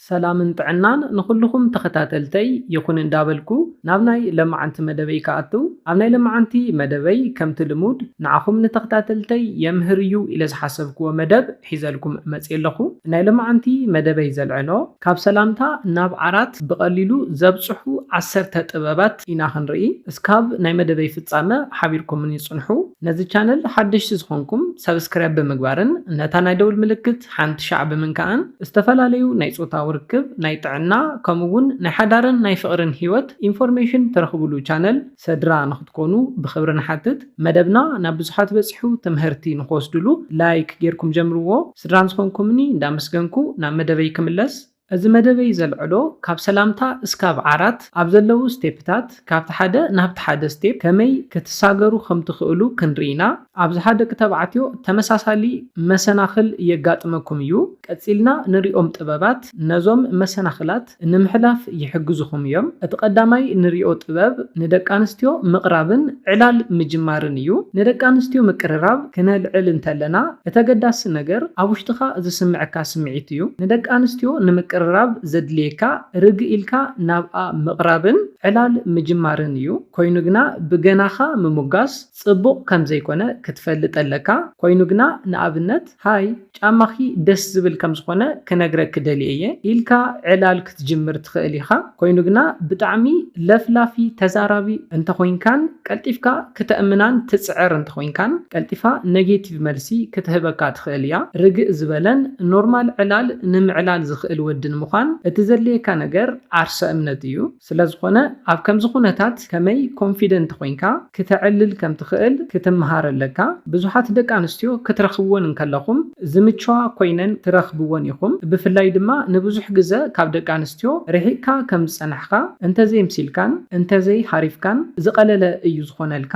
ሰላምን ጥዕናን ንኹሉኹም ተኸታተልተይ ይኹን እንዳበልኩ ናብ ናይ ለማዓንቲ መደበይ ክኣትው ኣብ ናይ ለማዓንቲ መደበይ ከምቲ ልሙድ ንዓኹም ንተኽታተልተይ የምህር እዩ ኢለ ዝሓሰብክዎ መደብ ሒዘልኩም መጽየ ኣለኹ ናይ ለማዓንቲ መደበይ ዘልዕሎ ካብ ሰላምታ ናብ ዓራት ብቀሊሉ ዘብጽሑ ዓሰርተ ጥበባት ኢና ክንርኢ እስካብ ናይ መደበይ ፍጻመ ሓቢርኩምኒ ጽንሑ ነዚ ቻነል ሓደሽቲ ዝኾንኩም ሰብስክራይብ ብምግባርን ነታ ናይ ደውል ምልክት ሓንቲ ሻዕ ብምንካኣን ዝተፈላለዩ ናይ ፆታዊ ርክብ፣ ናይ ጥዕና ከምኡ እውን ናይ ሓዳርን ናይ ፍቕርን ህይወት ኢንፎርሜሽን ትረኽብሉ ቻነል ሰድራ ንኽትኮኑ ብኽብሪ ንሓትት። መደብና ናብ ብዙሓት በፂሑ ትምሀርቲ ንኽወስድሉ ላይክ ገይርኩም ጀምርዎ። ስድራን ዝኾንኩምኒ እንዳመስገንኩ ናብ መደበይ ክምለስ። እዚ መደበይ ዘልዕሎ ካብ ሰላምታ እስካብ ዓራት ኣብ ዘለዉ ስቴፕታት ካብቲ ሓደ ናብቲ ሓደ ስቴፕ ከመይ ክትሳገሩ ከም ትኽእሉ ክንርኢ ኢና። ኣብዝሓ ደቂ ተባዕትዮ ተመሳሳሊ መሰናኽል የጋጥመኩም እዩ። ቀጺልና ንሪኦም ጥበባት ነዞም መሰናኽላት ንምሕላፍ ይሕግዙኹም እዮም። እቲ ቀዳማይ ንሪኦ ጥበብ ንደቂ ኣንስትዮ ምቕራብን ዕላል ምጅማርን እዩ። ንደቂ ኣንስትዮ ምቅርራብ ክነልዕል እንተለና እቲ ኣገዳሲ ነገር ኣብ ውሽጥኻ ዝስምዕካ ስምዒት እዩ። ንደቂ ኣንስትዮ ንምቅርራብ ዘድልየካ ርግእ ኢልካ ናብኣ ምቕራብን ዕላል ምጅማርን እዩ። ኮይኑ ግና ብገናኻ ምሙጋስ ጽቡቕ ከምዘይኮነ ክትፈልጥ ኣለካ። ኮይኑ ግና ንኣብነት። ሃይ ጫማኺ ደስ ዝብል ከም ዝኾነ ክነግረኪ ደልየ እየ ኢልካ ዕላል ክትጅምር ትኽእል ኢኻ። ኮይኑ ግና ብጣዕሚ ለፍላፊ ተዛራቢ እንተኾይንካን ቀልጢፍካ ክተእምናን ትጽዕር እንተኾይንካን ቀልጢፋ ነጌቲቭ መልሲ ክትህበካ ትኽእል እያ። ርግእ ዝበለን ኖርማል ዕላል ንምዕላል ዝኽእል ወዲ ንምዃን እቲ ዘድልየካ ነገር ዓርሰ እምነት እዩ። ስለዝኾነ ኣብ ከምዚ ኩነታት ከመይ ኮንፊደንት ኮይንካ ክተዕልል ከም ትኽእል ክትምሃር ኣለካ። ብዙሓት ደቂ ኣንስትዮ ክትረኽብወን እንከለኹም ዝምችዋ ኮይነን ትረኽብወን ኢኹም። ብፍላይ ድማ ንብዙሕ ግዘ ካብ ደቂ ኣንስትዮ ርሒቕካ ከም ዝፀናሕኻ፣ እንተዘይምሲልካን እንተዘይሃሪፍካን ዝቐለለ እዩ ዝኾነልካ።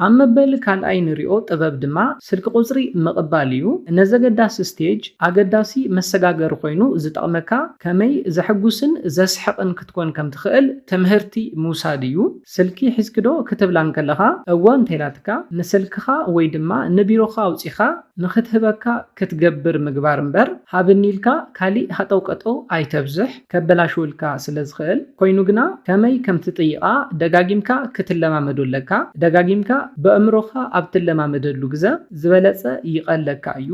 ኣብ መበል ካልኣይ ንሪኦ ጥበብ ድማ ስልኪ ቁፅሪ ምቕባል እዩ። ነዘገዳሲ ስቴጅ ኣገዳሲ መሰጋገሪ ኮይኑ ዝጠቕመካ ከመይ ዘሕጉስን ዘስሕቕን ክትኮን ከም ትኽእል ትምህርቲ ምውሳድ እዩ። ስልኪ ሒዝኪዶ ክትብላ እንከለኻ እወ እንተኢላትካ ንስልክኻ ወይ ድማ ንቢሮኻ ኣውፂኻ ንኽትህበካ ክትገብር ምግባር እምበር ሃብኒ ኢልካ ካሊእ ሃጠውቀጠው ኣይተብዝሕ። ከበላሽውልካ ስለ ዝኽእል፣ ኮይኑ ግና ከመይ ከም ትጥይቓ ደጋጊምካ ክትለማመዶ ኣለካ። ደጋጊምካ በእምሮኻ ኣብ ትለማመደሉ ግዘ ዝበለጸ ይቐለካ እዩ።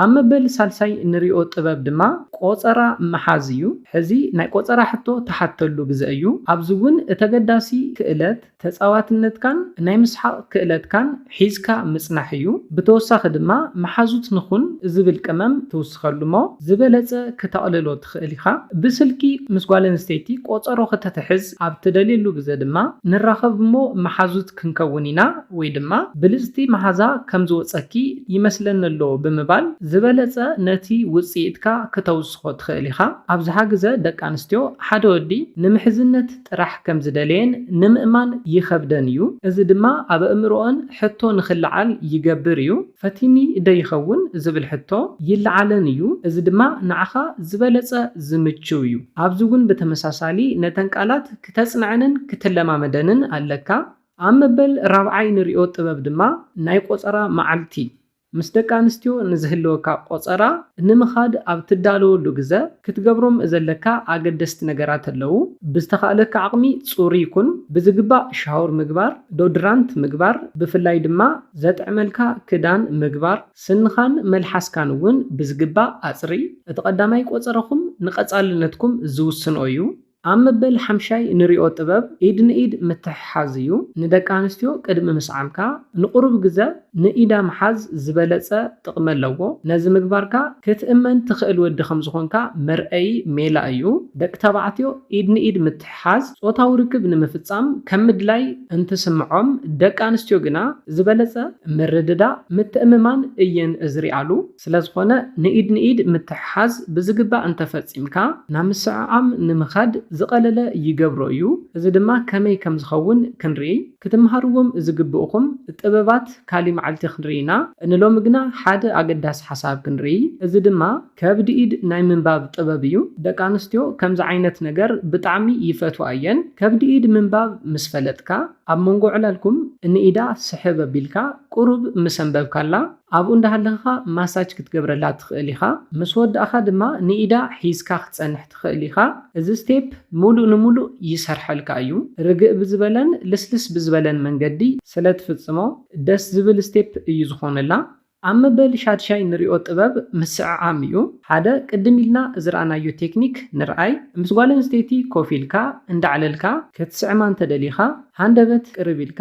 ኣብ መበል ሳልሳይ እንሪኦ ጥበብ ድማ ቆጸራ ምሓዝ እዩ። ሕዚ ናይ ቆጸራ ሕቶ ትሓተሉ ግዘ እዩ። ኣብዚ እውን እተገዳሲ ክእለት፣ ተጻዋትነትካን ናይ ምስሓቕ ክእለትካን ሒዝካ ምጽናሕ እዩ። ብተወሳኺ ድማ መሓዙት ንኹን ዝብል ቅመም ትውስኸሉ'ሞ ዝበለጸ ክተቕልሎ ትኽእል ኢኻ። ብስልኪ ምስ ጓል ኣንስተይቲ ቆጸሮ ክተትሕዝ ኣብ ትደልየሉ ግዘ ድማ ንራኸብ'ሞ መሓዙት ክንከውን ኢና ወይ ድማ ብልጽቲ መሓዛ ከም ዝወጸኪ ይመስለኒ'ሎ ብምባል ዝበለጸ ነቲ ውጽኢትካ ክተውስኾ ትኽእል ኢኻ። ኣብዝሓ ግዘ ደቂ ኣንስትዮ ሓደ ወዲ ንምሕዝነት ጥራሕ ከም ዝደለየን ንምእማን ይኸብደን እዩ፣ እዚ ድማ ኣብ ኣእምሮኣን ሕቶ ንኽለዓል ይገብር እዩ። ፈቲኒ ዶ ይኸውን ዝብል ሕቶ ይለዓለን እዩ፣ እዚ ድማ ንዓኻ ዝበለጸ ዝምችው እዩ። ኣብዚ እውን ብተመሳሳሊ ነተን ቃላት ክተጽንዐንን ክትለማመደንን ኣለካ። ኣብ መበል ራብዓይ ንርእዮ ጥበብ ድማ ናይ ቆጸራ መዓልቲ ምስ ደቂ ኣንስትዮ ንዝህልወካ ቆጸራ ንምኻድ ኣብ ትዳለወሉ ግዘ ክትገብሮም ዘለካ ኣገደስቲ ነገራት ኣለዉ። ብዝተኻእለካ ዓቕሚ ጽሩይ ኩን፣ ብዝግባእ ሻወር ምግባር፣ ዶድራንት ምግባር፣ ብፍላይ ድማ ዘጥዕመልካ ክዳን ምግባር፣ ስንኻን መልሓስካን እውን ብዝግባእ ኣጽርይ፣ እቲ ቀዳማይ ቆጸራኹም ንቀጻልነትኩም ዝውስን'ዩ። ኣብ መበል ሓምሻይ ንሪኦ ጥበብ ኢድ ንኢድ ምትሕሓዝ እዩ። ንደቂ ኣንስትዮ ቅድሚ ምስዓምካ ንቑሩብ ግዘ ንኢዳ ምሓዝ ዝበለፀ ጥቕሚ ኣለዎ። ነዚ ምግባርካ ክትእመን ትኽእል ወዲ ከምዝኾንካ መርኣዪ ሜላ እዩ። ደቂ ተባዕትዮ ኢድ ንኢድ ምትሕሓዝ ፆታዊ ርክብ ንምፍፃም ከም ምድላይ እንትስምዖም ደቂ ኣንስትዮ ግና ዝበለፀ ምርድዳእ፣ ምትእምማን እየን ዝሪኣሉ። ስለዝኾነ ንኢድ ንኢድ ምትሕሓዝ ብዝግባእ እንተፈፂምካ ናብ ምስዕዓም ንምኻድ ዝቐለለ ይገብሮ እዩ። እዚ ድማ ከመይ ከምዝኸውን ክንሪኢ ክትምሃርዎም ዝግብእኹም ጥበባት ካሊእ መዓልቲ ክንሪኢ ኢና። ንሎሚ ግና ሓደ ኣገዳሲ ሓሳብ ክንሪኢ እዚ ድማ ከብድ ኢድ ናይ ምንባብ ጥበብ እዩ። ደቂ ኣንስትዮ ከምዚ ዓይነት ነገር ብጣዕሚ ይፈትዋ እየን። ከብድ ኢድ ምንባብ ምስ ፈለጥካ ኣብ መንጎ ዕላልኩም ንኢዳ ስሕብ ኣቢልካ ቁሩብ ምስ ኣንበብካላ፣ ኣብኡ እንዳሃለኽኻ ማሳጅ ክትገብረላ ትኽእል ኢኻ፣ ምስ ወዳእኻ ድማ ንኢዳ ሒዝካ ክትጸንሕ ትኽእል ኢኻ። እዚ ስቴፕ ሙሉእ ንሙሉእ ይሰርሐልካ እዩ። ርግእ ብዝበለን ልስልስ ብዝበለን መንገዲ ስለ ትፍጽሞ ደስ ዝብል ስቴፕ እዩ ዝኾነላ። ኣብ መበል ሻድሻይ ንሪኦ ጥበብ ምስዕዓም እዩ። ሓደ ቅድም ኢልና ዝረኣናዮ ቴክኒክ ንርኣይ። ምስ ጓል ኣንስተይቲ ኮፍ ኢልካ እንዳዕለልካ ክትስዕማ እንተደሊኻ ሃንደበት ቅርብ ኢልካ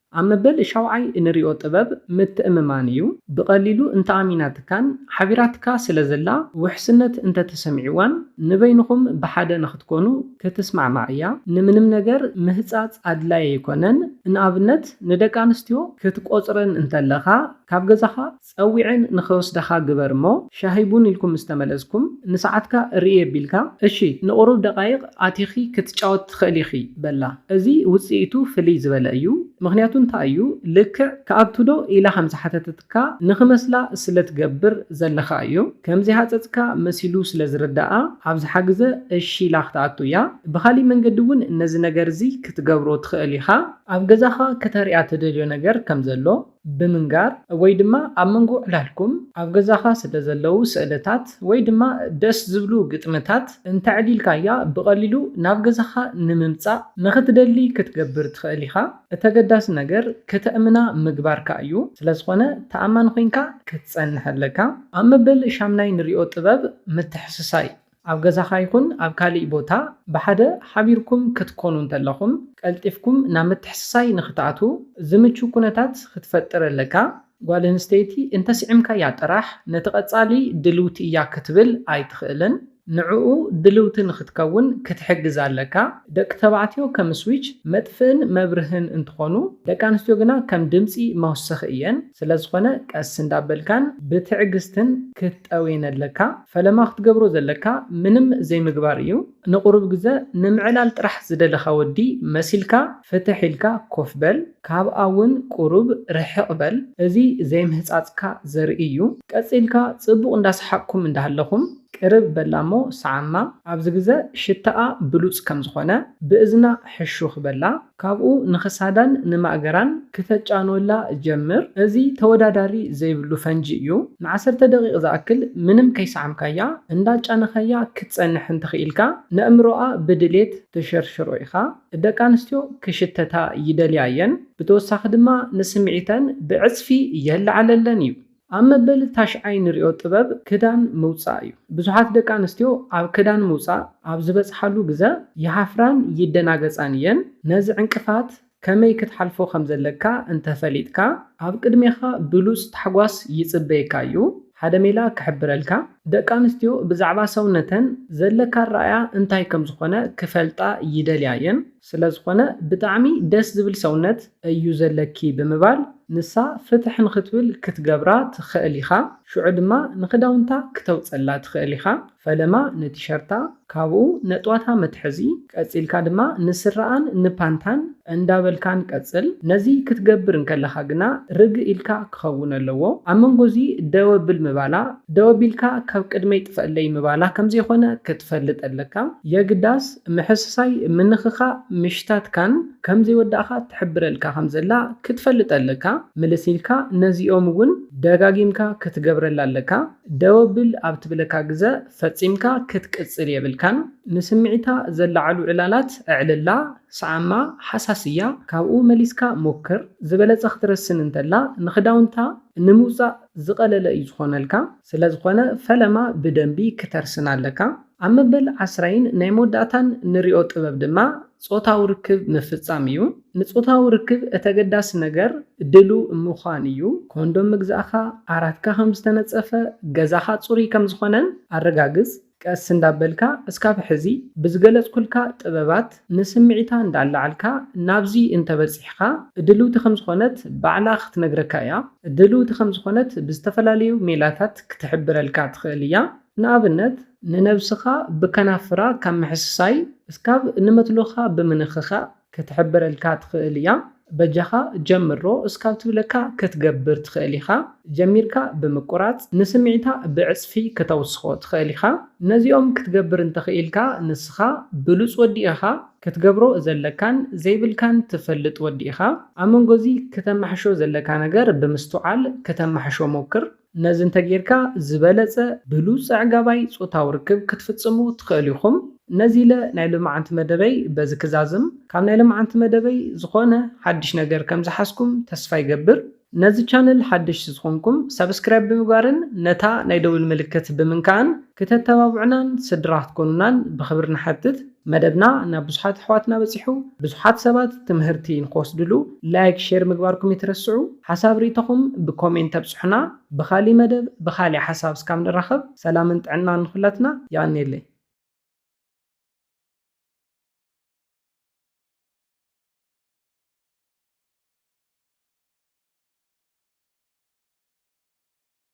ኣብ መበል ሻውዓይ እንሪኦ ጥበብ ምትእምማን እዩ። ብቐሊሉ እንተኣሚናትካን ሓቢራትካ ስለ ዘላ ውሕስነት እንተተሰሚዕዋን ንበይንኹም ብሓደ ንኽትኮኑ ክትስማዕማዕ እያ። ንምንም ነገር ምህጻጽ ኣድላይ ኣይኮነን። ንኣብነት ንደቂ ኣንስትዮ ክትቆጽረን እንተለኻ ካብ ገዛኻ፣ ጸዊዐን ንኽወስዳኻ ግበር እሞ ሻሂ ቡን ኢልኩም ምስ ተመለስኩም ንሰዓትካ ርእይ ኣቢልካ እሺ ንቑሩብ ደቓይቕ ኣቲኺ ክትጫወቲ ትኽእሊ ኢኺ በላ። እዚ ውጽኢቱ ፍልይ ዝበለ እዩ ምኽንያቱ እንታይ እዩ ልክዕ ክኣቱ ዶ ኢላ ከም ዝሓተተትካ ንኽመስላ ስለ ትገብር ዘለኻ እዩ ከም ዘይሃጸጽካ መሲሉ ስለ ዝርደኣ ኣብዝሓ ግዘ እሺ ኢላ ክትኣቱ እያ ብኻሊእ መንገዲ እውን ነዚ ነገር እዚ ክትገብሮ ትኽእል ኢኻ ኣብ ገዛኻ ከተርእያ ትደልዮ ነገር ከም ዘሎ ብምንጋር ወይ ድማ ኣብ መንጎ ዕላልኩም ኣብ ገዛኻ ስለዘለዉ ስእልታት ወይ ድማ ደስ ዝብሉ ግጥምታት እንተዕሊልካያ ብቐሊሉ ናብ ገዛኻ ንምምጻእ ንኽትደሊ ክትገብር ትኽእል ኢኻ። እቲ ኣገዳሲ ነገር ከተእምና ምግባርካ እዩ፣ ስለዝኾነ ተኣማኒ ኮይንካ ክትጸንሕ ኣለካ። ኣብ መበል ሻምናይ ንሪኦ ጥበብ ምትሕስሳይ እዩ። ኣብ ገዛኻ ይኹን ኣብ ካልእ ቦታ ብሓደ ሓቢርኩም ክትኰኑ እንተለኹም፣ ቀልጢፍኩም ናብ ምትሕስሳይ ንኽትኣትዉ ዝምቹ ኵነታት ክትፈጥር ኣለካ። ጓል ኣንስተይቲ እንተ ስዒምካያ ጥራሕ ነቲ ቀጻሊ ድልውቲ እያ ክትብል ኣይትኽእልን። ንዕኡ ድልውቲ ንኽትከውን ክትሕግዛ ኣለካ። ደቂ ተባዕትዮ ከም ስዊች፣ መጥፍእን መብርህን፣ እንትኾኑ፣ ደቂ ኣንስትዮ ግና ከም ድምጺ መውሰኺ እየን። ስለዝኾነ ቀስ እንዳበልካን ብትዕግስትን ጠውየነለካ ፈለማ ክትገብሮ ዘለካ ምንም ዘይምግባር እዩ ንቁሩብ ግዘ ንምዕላል ጥራሕ ዝደለካ ወዲ መሲልካ ፍትሕ ኢልካ ኮፍ በል ካብኣ ውን ቁሩብ ርሕቅ በል እዚ ዘይምህፃፅካ ዘርኢ እዩ ቀፂልካ ፅቡቅ እንዳሰሓቅኩም እንዳሃለኩም ቅርብ በላ እሞ ሰዓማ ኣብዚ ግዘ ሽታኣ ብሉፅ ከምዝኮነ ብእዝና ሕሹክ በላ ካብኡ ንክሳዳን ንማእገራን ክተጫንወላ ጀምር። እዚ ተወዳዳሪ ዘይብሉ ፈንጂ እዩ። ንዓሰርተ ደቒቕ ዝኣክል ምንም ከይሰዓምካያ እንዳጫነኻያ ክትጸንሕ እንተኽኢልካ ነእምሮኣ ብድሌት ትሽርሽሮ ኢኻ። ደቂ ኣንስትዮ ክሽተታ ይደልያ እየን። ብተወሳኺ ድማ ንስምዒተን ብዕጽፊ የለዓለለን እዩ። ኣብ መበል ታሽዓይ ንሪኦ ጥበብ ክዳን ምውጻእ እዩ። ብዙሓት ደቂ ኣንስትዮ ኣብ ክዳን ምውጻእ ኣብ ዝበጽሓሉ ግዘ ይሃፍራን ይደናገጻን እየን። ነዚ ዕንቅፋት ከመይ ክትሓልፎ ከም ዘለካ እንተ ፈሊጥካ፣ ኣብ ቅድሜኻ ብሉጽ ታሕጓስ ይጽበየካ እዩ። ሓደ ሜላ ክሕብረልካ፣ ደቂ ኣንስትዮ ብዛዕባ ሰውነተን ዘለካ ኣረኣእያ እንታይ ከም ዝኾነ ክፈልጣ ይደልያ እየን። ስለ ዝኾነ ብጣዕሚ ደስ ዝብል ሰውነት፣ እዩ ዘለኪ ብምባል ንሳ ፍትሕ ንክትብል ክትገብራ ትኸእል ኢኻ ሽዑ ድማ ንክዳውንታ ክተውጸላ ትኸእል ኢኻ ፈለማ ንቲሸርታ ካብኡ ነጥዋታ መትሐዚ ቀጺልካ ድማ ንስረኣን ንፓንታን እንዳበልካን ቀጽል ነዚ ክትገብር እንከለኻ ግና ርግ ኢልካ ክኸውን ኣለዎ ኣብ መንጎ እዚ ደው ኣብል ምባላ ደው ኣቢልካ ካብ ቅድመይ ጥፈእለይ ምባላ ከምዘይኾነ ክትፈልጥ ኣለካ የግዳስ ምሕስሳይ ምንኽኻእ ምሽታትካን ከም ዘይወዳእካ ትሕብረልካ ከም ዘላ ክትፈልጥ ኣለካ ምልስ ኢልካ ነዚኦም ውን ደጋጊምካ ክትገብረላ ኣለካ ደው ኣብል ኣብ ትብለካ ግዘ ፈጺምካ ክትቅጽል የብልካን ንስምዒታ ዘለዓዕሉ ዕላላት ኣዕልላ ስዓማ ሃሳስ እያ ካብኡ መሊስካ ሞክር ዝበለጸ ክትረስን እንተላ ንኽዳውንታ ንምውጻእ ዝቀለለ እዩ ዝኾነልካ ስለዝኾነ ፈለማ ብደንቢ ክተርስና ኣለካ። ኣብ መበል ዓስራይን ናይ መወዳእታን ንሪኦ ጥበብ ድማ ጾታዊ ርክብ ምፍጻም እዩ። ንጾታዊ ርክብ እተገዳሲ ነገር ድሉው ምዃን እዩ። ኮንዶም ምግዛእካ፣ ዓራትካ ከም ዝተነጸፈ፣ ገዛኻ ጽሩይ ከም ዝኾነን ኣረጋግጽ። ቀስ እንዳበልካ እስካብ ሕዚ ብዝገለፅኩልካ ጥበባት ንስምዒታ እንዳኣላዓልካ ናብዚ እንተበፂሕኻ ድልውቲ ከምዝኾነት ባዕላ ክትነግረካ እያ። ድልውቲ ከምዝኾነት ብዝተፈላለዩ ሜላታት ክትሕብረልካ ትኽእል እያ። ንኣብነት። ንነብስኻ ብከናፍራ ካብ ምሕስሳይ እስካብ ንመትሎኻ ብምንኽኻእ። ክትሕብረልካ ትኽእል እያ በጃኻ ጀምሮ እስካብ ትብለካ ክትገብር ትኽእል ኢኻ ጀሚርካ ብምቁራጽ ንስምዒታ ብዕጽፊ ክተውስኾ ትኽእል ኢኻ ነዚኦም ክትገብር እንተኽኢልካ ንስኻ ብሉጽ ወዲ ኢኻ ክትገብሮ ዘለካን ዘይብልካን ትፈልጥ ወዲ ኢኻ ኣመንጎዚ ክተማሕሾ ዘለካ ነገር ብምስትውዓል ክተማሕሾ ሞክር ነዚ እንተጌርካ ዝበለጸ ብሉጽ ኣዕጋባይ ጾታዊ ርክብ ክትፍጽሙ ትኸእሉ ኢኹም። ነዚ ኢለ ናይ ሎማዓንቲ መደበይ በዚ ክዛዝም። ካብ ናይ ሎማዓንቲ መደበይ ዝኾነ ሓድሽ ነገር ከም ዝሓዝኩም ተስፋ ይገብር። ነዚ ቻነል ሓደሽቲ ዝኾንኩም ሳብስክራይብ ብምግባርን ነታ ናይ ደውል ምልክት ብምንካእን ክተተባብዑናን ስድራ ክትኮኑናን ብኽብሪ ንሓትት። መደብና ናብ ብዙሓት ኣሕዋትና በጺሑ ብዙሓት ሰባት ትምህርቲ ንክወስድሉ ላይክ ሼር ምግባርኩም እይትረስዑ ሓሳብ ሪኢቶኹም ብኮሜንት ኣብጹሑና ብኻሊእ መደብ ብኻሊእ ሓሳብ እስካብ ንራኸብ ሰላምን ጥዕናን ንኹላትና የቀንየለይ።